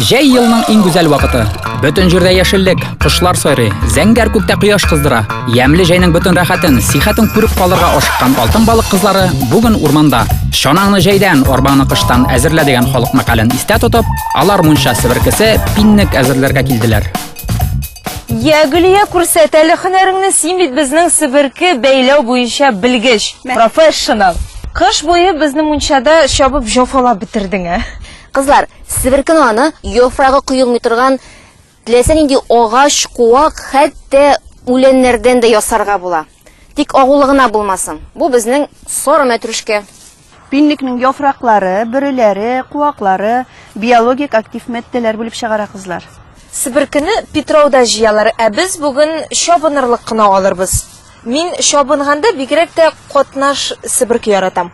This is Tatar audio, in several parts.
Җәй елның иң гүзәл вакыты. Бөтен җирдә яшеллек, кошлар сайрый, зәңгәр күктә кояш кыздыра. Ямьле җәйнең бөтен рәхәтен, сихәтен күреп калырга ашыккан алтын балык кызлары бүген урманда. Чанаңны җәйдән, арбаны кыштан әзерлә дигән халык мәкален истә тотып, алар мунча себеркесе, пиннек әзерләргә килделәр. Я, Гөлия, күрсәт әле һөнәреңне, син бит безнең себерке бәйләү буенча белгеч, профессионал. Кыш буе безне мунчада чабып җафалап бетердең, ә? Кызлар, себеркең аны яфрагы коелмый торган теләсә нинди агач, куак, хәтта үләннәрдән дә ясарга була. Тик агулы гына булмасын. Бу безнең сары мәтрүшкә. Пинлекнең яфраклары, бөреләре, куаклары биологик актив матдәләр бүлеп чыгара, кызлар. Себеркене Питрауда җыялар, ә без бүген чабынырлык кына алырбыз. Мин чабынганда бигрәк тә катнаш себерке яратам.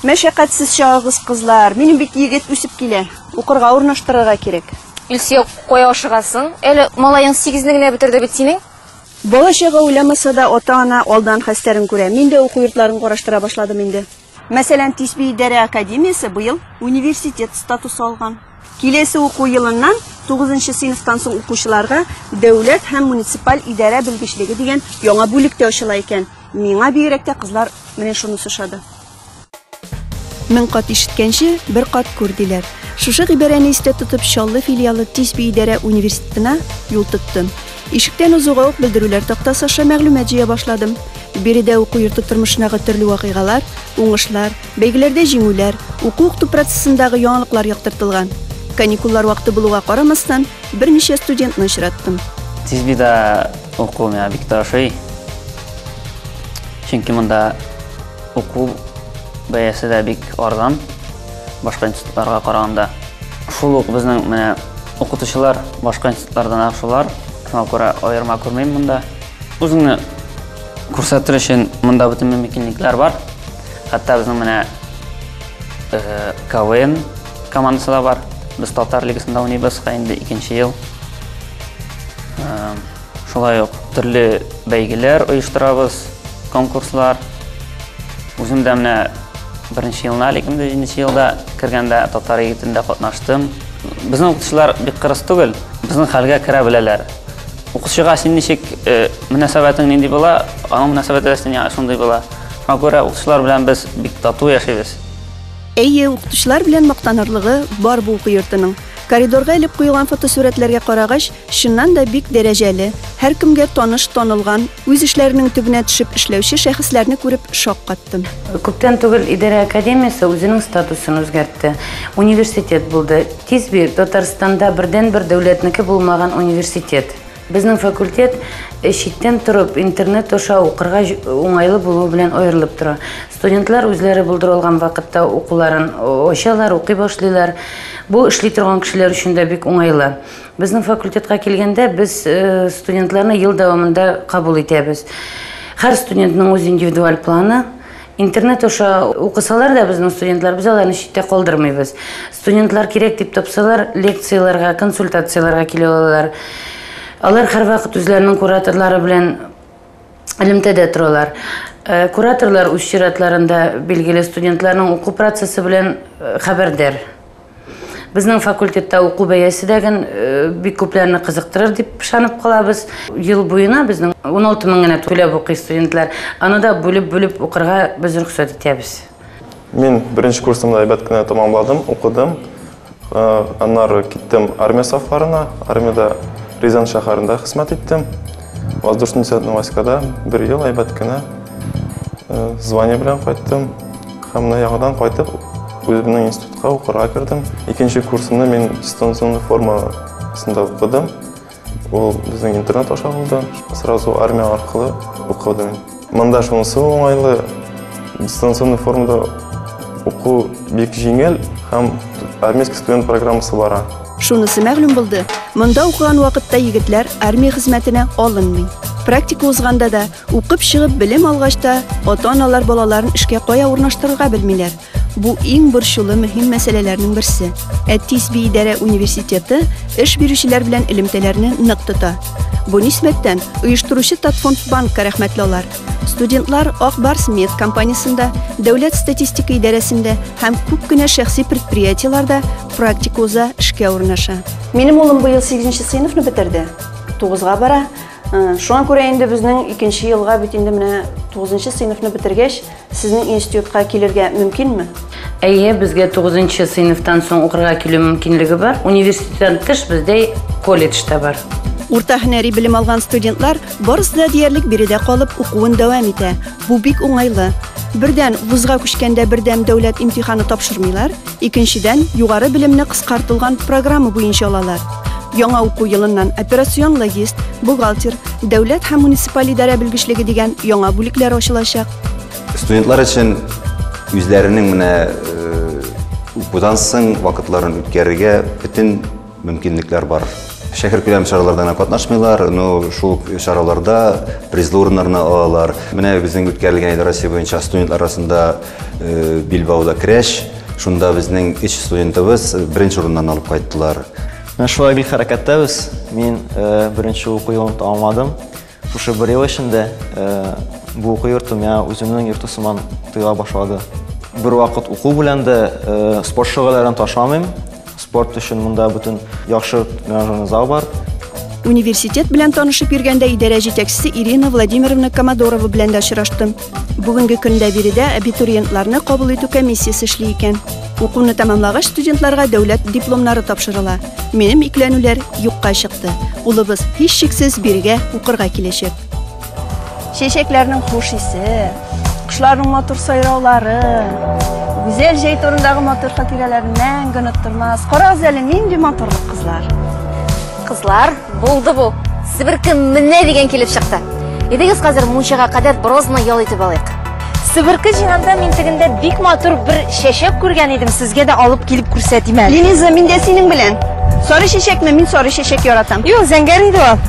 Мәшәкатьсез чагыгыз кызлар, минем бит егет үсеп килә, укырга урнаштырырга кирәк. Илсөя, кая ашыгасың? Әле малаең сигезне генә бетерде бит синең. Бала-чага уйламаса да, ата-ана алдан хәстәрен күрә. Мин дә уку йортларын караштыра башладым инде. Мәсәлән, Тисби идарә академиясе быел университет статусы алган. Киләсе уку елыннан тугызынчы сыйныфтан соң укучыларга дәүләт һәм муниципаль идарә белгечлеге дигән яңа бүлек тә ачыла икән. Миңа бигрәк тә кызлар менә шунысы ошады. Мең кат ишеткәнче, бер кат күр, диләр. Шушы гыйбарәне истә тотып, Чаллы филиалы Тисби идарә университетына юл тоттым. Ишектән узуга ук белдерүләр тактасы аша мәгълүмат җыя башладым. Биредә уку йорты тормышындагы төрле вакыйгалар, уңышлар, бәйгеләрдә җиңүләр, уку-укыту процессындагы яңалыклар яктыртылган. Каникуллар вакыты булуга карамастан, берничә студентны очраттым. Тизбида уку миңа бик тә ошый. Чөнки монда уку бәясе дә бик арзан, башка институтларга караганда. Шул ук безнең менә Укытучылар башка институтлардан шулар, шуңа күрә аерма күрмим монда. Үзеңне күрсәтер өчен монда бөтен мөмкинлекләр бар. Хәтта безнең менә э, КВН командасы да бар. Без татар лигасында уйныйбыз, инде икенче ел. Э, Шулай ук төрле бәйгеләр оештырабыз, конкурслар. Үзем дә менә беренче елына әле 2007 елда кергәндә татар егетендә катнаштым. Безнең укытучылар бик кырыс түгел, безнең хәлгә керә беләләр. Укытучыга син ничек э, мөнәсәбәтең нинди була, аның мөнәсәбәте дә сиңа шундый була. Шуңа күрә укытучылар белән без бик тату яшибез. Әйе, укытучылар белән мактанырлыгы бар бу уку йортының. Коридорга элеп куелган фотосурәтләргә карагач, Чыннан да бик дәрәҗәле, һәркемгә таныш, танылган, үз эшләренең төбенә төшеп эшләүче шәхесләрне күреп шаккаттым. Күптән түгел идарә академиясе үзенең статусын үзгәртте. Университет булды. Тиз бир, Татарстанда бердәнбер дәүләтнеке булмаган университет. Безнең факультет читтән торып, интернет аша укырга уңайлы булуы белән аерылып тора. Студентлар үзләре булдыра алган вакытта укуларын ачалар, укый башлыйлар. Бу эшли торган кешеләр өчен дә бик уңайлы. Безнең факультетка килгәндә, без студентларны ел дәвамында кабул итәбез. Һәр студентның үз индивидуаль планы, интернет аша укысалар да безнең студентлар без аларны читтә калдырмыйбыз студентлар кирәк дип тапсалар лекцияләргә консультацияләргә килә алалар алар һәрвакыт үзләренең кураторлары белән элемтәдә торалар э, кураторлар үз чиратларында билгеле студентларның уку процессы белән э, хәбәрдар Безнең факультетта уку бәясе дә ген э, бик күпләрне кызыктырыр дип ышанып калабыз. Ел буена безнең 16 мең генә түләп укый студентлар. Аны да бүлеп-бүлеп укырга без рөхсәт итәбез. Мин беренче курсымда әйбәт кенә тәмамладым, укыдым. Э, аннары киттем армия сафларына. Армиядә Рязань шәһәрендә хезмәт иттем. Воздушный десантный войскада бер ел әйбәт кенә э, звание белән кайттым. Һәм менә яңадан кайтып, үземнең институт Та укырга кердем. Икенче курсымны мин дистанционный формасында укыдым. Ул безнең интернет аша булды. Сразу армия аркылы укыдым. Монда шунысы уңайлы, дистанционный формада уку бик җиңел һәм армейский студент программасы бара. Шунысы мәгълүм булды, монда укыган вакытта егетләр армия хезмәтенә алынмый. Практика узганда да, укып чыгып белем алгач та, ата-аналар балаларын эшкә кая урнаштырырга белмиләр. Бу иң борчулы мөһим мәсьәләләрнең берсе. Ә тиз биидарә университеты эш бирүчеләр белән элемтәләрне нык тота. Бу нисбәттән оештыручы Татфонд банкка рәхмәтле алар. Студентлар Ак Барс мед компаниясендә, дәүләт статистика идарәсендә һәм күп кенә шәхси предприятиеләрдә практика уза, эшкә урнаша. Минем улым быел 8 нче сыйныфны бетерде. 9 га бара. Э, шуңа күрә инде безнең икенче елга бит инде менә 9 нчы сыйныфны бетергәч, Сезнең институтка килергә мөмкинме? Әйе, безгә 9 сыйныфтан соң укырга килү мөмкинлеге бар. Университеттан тыш бездә колледж та бар. Урта һөнәри белем алган студентлар барысы да диярлек биредә калып укуын дәвам итә. Бу бик уңайлы. Бердән, вузга күчкәндә бердәм дәүләт имтиханы тапшырмыйлар, Икенчедән, югары белемне кыскартылган программа буенча алалар. Яңа уку елыннан операцион логист, бухгалтер, дәүләт һәм муниципаль идарә белгечлеге дигән яңа бүлекләр ачылачак. Студентлар өчен үзләренең менә э, укудан соң вакытларын үткәрергә бөтен мөмкинлекләр бар. Шәһәр күләм чараларда гына катнашмыйлар, но шул чараларда призлы урыннарны алалар. Менә безнең үткәрелгән иде Россия буенча студентлар арасында э, Билбауда крәш. Шунда безнең өч студентыбыз беренче урыннан алып кайттылар. Менә шулай бик хәрәкәттәбез. Мин э, беренче уку елын тәмамладым. Шушы бер ел эчендә бу уку йорты миңа үземнең йорты сыман тоела башлады. Бер вакыт уку белән дә спорт шөгыльләрен ташламыйм. Спорт өчен монда бөтен яхшы тренажерный зал бар. Университет белән танышып йөргәндә идарә җитәкчесе Ирина Владимировна Комодорова белән дә очраштым. Бүгенге көндә биредә абитуриентларны кабул итү комиссиясе эшли икән. Укуны тәмамлагач студентларга дәүләт дипломнары тапшырыла. Минем икләнүләр юкка чыкты. Улыбыз һич шиксез бирегә укырга киләчәк. Чәчәкләрнең хуш исе, кошларның матур сайраулары, гүзәл җәй турындагы матур хатирәләрен мәңге оныттырмас. Карагыз әле нинди матурлык кызлар. Кызлар, Булды бу. Себерке менә дигән килеп чыкты. Идегез хәзер мунчага кадәр брозны ял итеп алыйк. Себерке җыйганда мин тегендә бик матур бер чәчәк күргән идем, сезгә дә алып килеп күрсәтим әле. Линиза, мин дә синең белән. Сары чәчәкме? Мин сары чәчәк яратам. Юк, зәңгәр иде ул.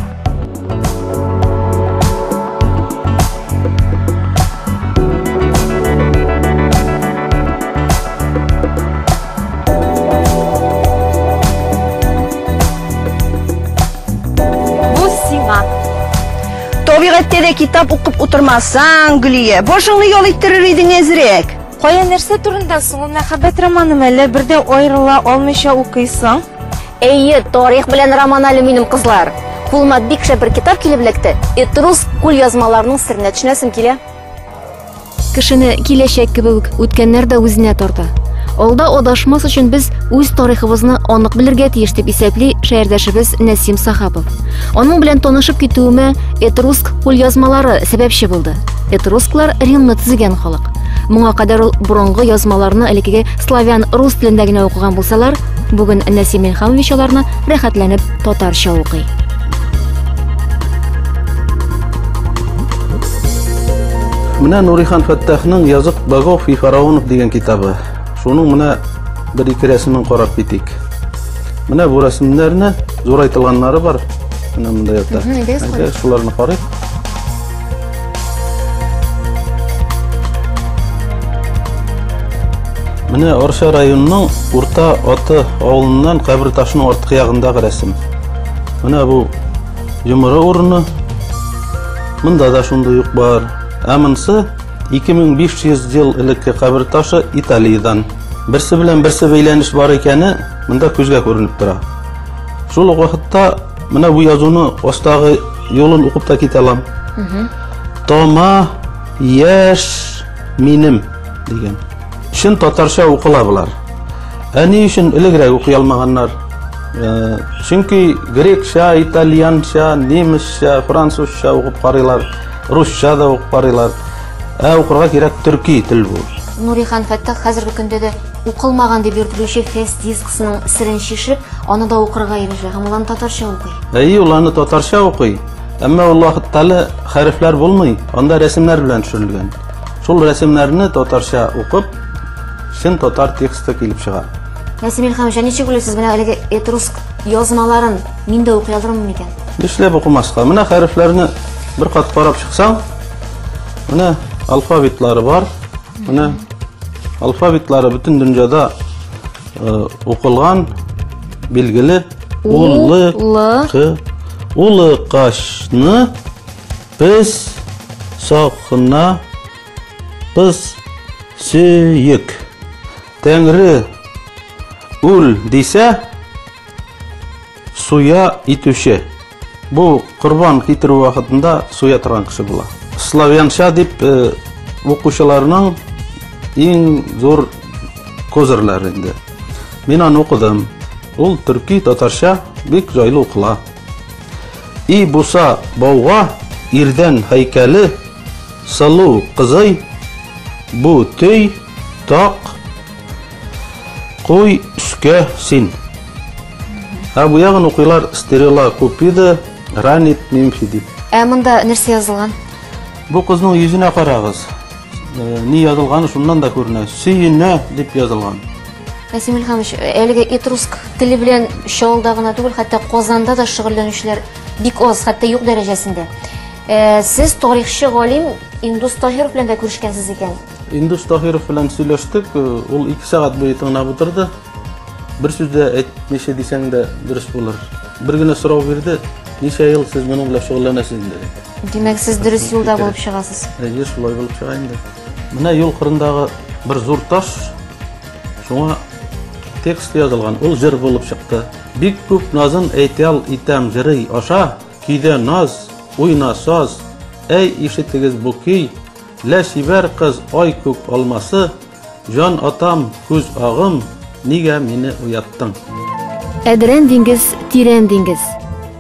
Бу сиңа. Табигатьтә дә китап укып утырмасаң, Гөлия, башыңны ял иттерер идең әзрәк. Кая нәрсә турында соң ул мәхәббәт романы мәле бердә аерыла алмыйча укыйсың? Әйе, тарих белән роман әле минем кызлар. Кулыма бик шәп бер китап килеп эләкте. Этрус кул язмаларының серенә төшенәсем килә. Кешене киләчәк кебек үк үткәннәр дә үзенә тарта. Алда адашмас өчен без үз тарихыбызны анык белергә тиеш дип исәпли шәһәрдәшебез Нәсим Сахапов. Аның белән танышып китүемә Этруск кулъязмалары сәбәпче булды. Этрусклар Римны төзегән халык. Моңа кадәр ул борынгы язмаларны элекеге славян рус телендә генә укыган булсалар, бүген Нәсим Илхамович аларны рәхәтләнеп татарча укый. Менә Нурихан Фәттахның Язык богов и фараонов дигән китабы. Шуның менә бер ике рәсемен карап китик. Менә бу рәсемнәрне зурайтылганнары бар. Менә монда ята. Әйдә, шуларны карыйк. Менә Орша районының Урта Аты авылыннан кабер ташының арткы ягындагы рәсем. Менә бу Йомыры урыны монда да шундый ук бар. Ә монысы 2500 ел элекке кабер ташы Италиядән. Берсе белән берсе бәйләнеш бар икәне монда күзгә күренеп тора. Шул ук вакытта менә бу язуны астагы юлын укып та китә алам. Тома яшь минем дигән. Чын татарча укыла болар. Ә ни өчен элегрәк укый алмаганнар? Э, чөнки грекча, итальянча, немецча, французча укып карыйлар, русча да укып карыйлар. Ә укырга кирәк төрки тел бу. Нурихан Фәттах хәзерге көндә дә укылмаган дип йөртелүче фест дисксының сирен шишеп, аны да укырга ирешә һәм улан татарча укый. Әйе, ул аны татарча укый. Әмма ул вакытта әле хәрефләр булмый, анда рәсемнәр белән төшерелгән. Шул рәсемнәрне татарча укып, чын татар тексты килеп чыга. Нәсим Илхамович, ничек уйлыйсыз, менә әлеге этруск язмаларын мин дә укый алырмын микән? Нишләп укымаска? Менә хәрефләрне бер кат карап чыксаң, менә алфавитлары бар. Менә алфавитлары бөтен дөньяда э, укылган, билгеле. Улы, кы, улы кашны Пес сакына пыс сөек. Тәңре үл дисә суя итүче. Бу корбан китерү вакытында суя торган кеше була. Славянша дип э, укучыларның иң зур козырлар инде. Мин аны укыдым. Ул төрки татарча бик җайлы укыла. И буса бауга ирдән һәйкәле сылу кызый Бу төй так куй өскә син Ә бу ягын укыйлар стерела купида ранит мимфи дип. Ә монда нәрсә язылган? Бу кызның йөзенә карагыз. Э, ни язылганы шуннан да күренә. Сөенә дип язылган. Насим Ильхамович, әлеге этруск теле белән Чаллыда гына түгел, хәтта Казанда да шөгыльләнүчеләр бик аз, хәтта юк дәрәҗәсендә. Э, сез тарихчы галим Индус Таһиров белән дә күрешкәнсез икән. Индус Таһиров белән сөйләштек, э, ул 2 сәгать буе тыңлап утырды. Бер сүз дә әйтмичә дисәң дә дөрес булыр. Бер генә сорау бирде, ничә ел сез моның белән шөгыльләнәсез инде? Димәк, сез дөрес юлда булып чыгасыз. Әйе, шулай булып чыга инде. Менә юл кырындагы бер зур таш, шуңа текст язылган, ул җыр булып чыкты. Бик күп назын әйтәл итәм җырый аша, көйдә наз, уйна саз, әй ишетегез бу көй, лә чибәр кыз ай күк алмасы, Җан атам, күз агым, нигә мине уяттың? Әдрән диңгез, тирән диңгез.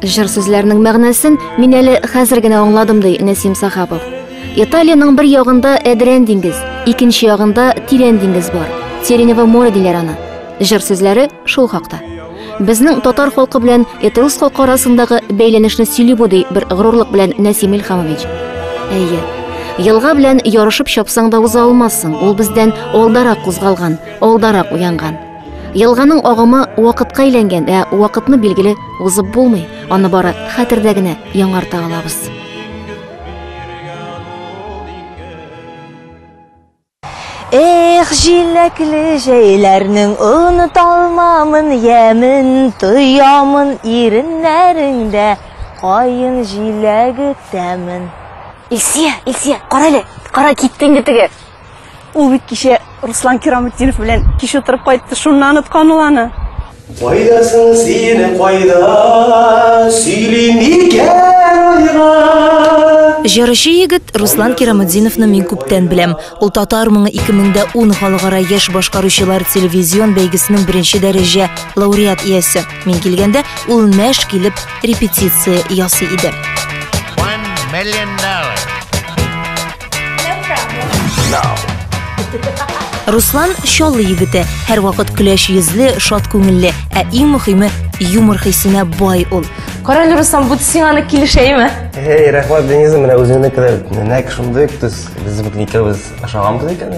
Җыр сүзләренең мәгънәсен мин әле хәзер генә аңладым, ди Нәсим Сахапов. Италиянең бер ягында Әдрән диңгез, икенче ягында Тирән диңгез бар. Сиренево море диләр аны. Җыр сүзләре шул хакта. Безнең татар халкы белән этрус халкы арасындагы бәйләнешне сөйли бу, ди бер горурлык белән Нәсим Илхамович. Әйе, елга белән ярышып чапсаң да уза алмассың, ул бездән алдарак кузгалган, алдарак уянган. Елганың агымы вакытка әйләнгән, ә вакытны билгеле узып булмый, аны бары хәтердә генә яңарта алабыз. Эх, җиләкле җәйләрнең Оныталмамын ямен Тоямын иреннәреңдә Каен җиләге тәмен. Илсия, Илсия, кара әле, кара, китте инде теге. Ул бит кичә Руслан Кирамутдинов белән кич утырып кайтты, шуннан оныткан ул аны. Кайдасың син, кайда, сөйли микән айга? Җырчы егет Руслан Кирамудзиновны мин күптән беләм. Ул татар моңы 2010 халыкара яшь башкаручылар телевизион бәйгесенең беренче дәрәҗә лауреат иясе. Мин килгәндә ул мәш килеп репетиция ясый иде. Руслан Чаллы егете, һәрвакыт көләч йөзле, шат күңелле, ә иң мөхиме юмор хисенә бай ул. Карале Руслан, бу сиңа аны килешәйме? Эй, рәхмәт Дениза, менә үзеңне кадәр нәк шундый төс. Без бит икәүбез ашаганбыз икән.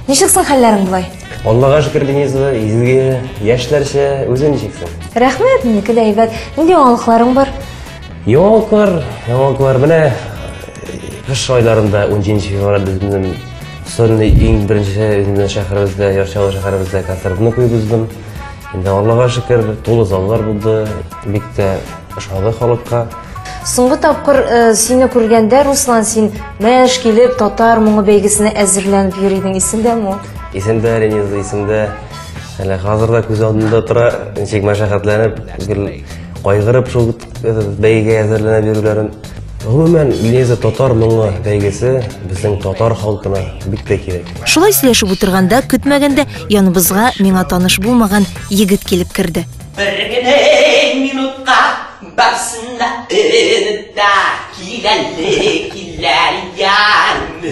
Ничек соң хәлләрең болай? Аллага шөкер Дениза, изге, яшьләрчә, үзең ничек соң? Рәхмәт, минеке дә әйбәт. Нинди яңалыкларың бар? Яңалыклар, яңалыклар менә кыш айларында 17 февраль безнең Сонный иң беренче үзенең шәһәребездә, Ярчалы шәһәребездә концертны куеп уздым. Инде Аллага шөкер, тулы заллар булды. Бик тә ошады халыкка. Соңгы тапкыр э, сине күргәндә, Руслан, син мәш килеп татар моңы бәйгесенә әзерләнеп йөр идең, исеңдәме ул? Исемдә, Рениза, исемдә. Әле хәзер дә күз алдында тора, ничек мәшәкатьләнеп, гел Кайгырып шул бәйгегә әзерләнә бирүләрен. Гомумән, Лиза татар моңы бәйгесе безнең татар халкына бик тә кирәк. Шулай сөйләшеп утырганда, көтмәгәндә яныбызга миңа таныш булмаган егет килеп керде. Бер генә минутка барсына да киләле килә янмы?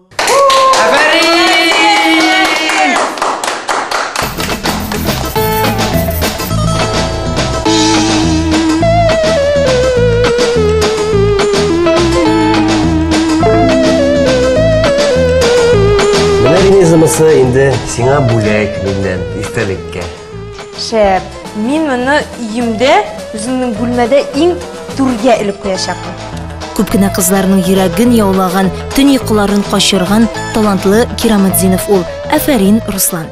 Менә ризымысы инде сиңа бүләк миннән истәлеккә. Шәп. Мин моны өемдә, үземнең бүлмәдә иң түргә элеп куячакмын. Күп кенә кызларның йөрәген яулаган, төн йокыларын качырган талантлы Кираматдинов ул. Афәрин, Руслан.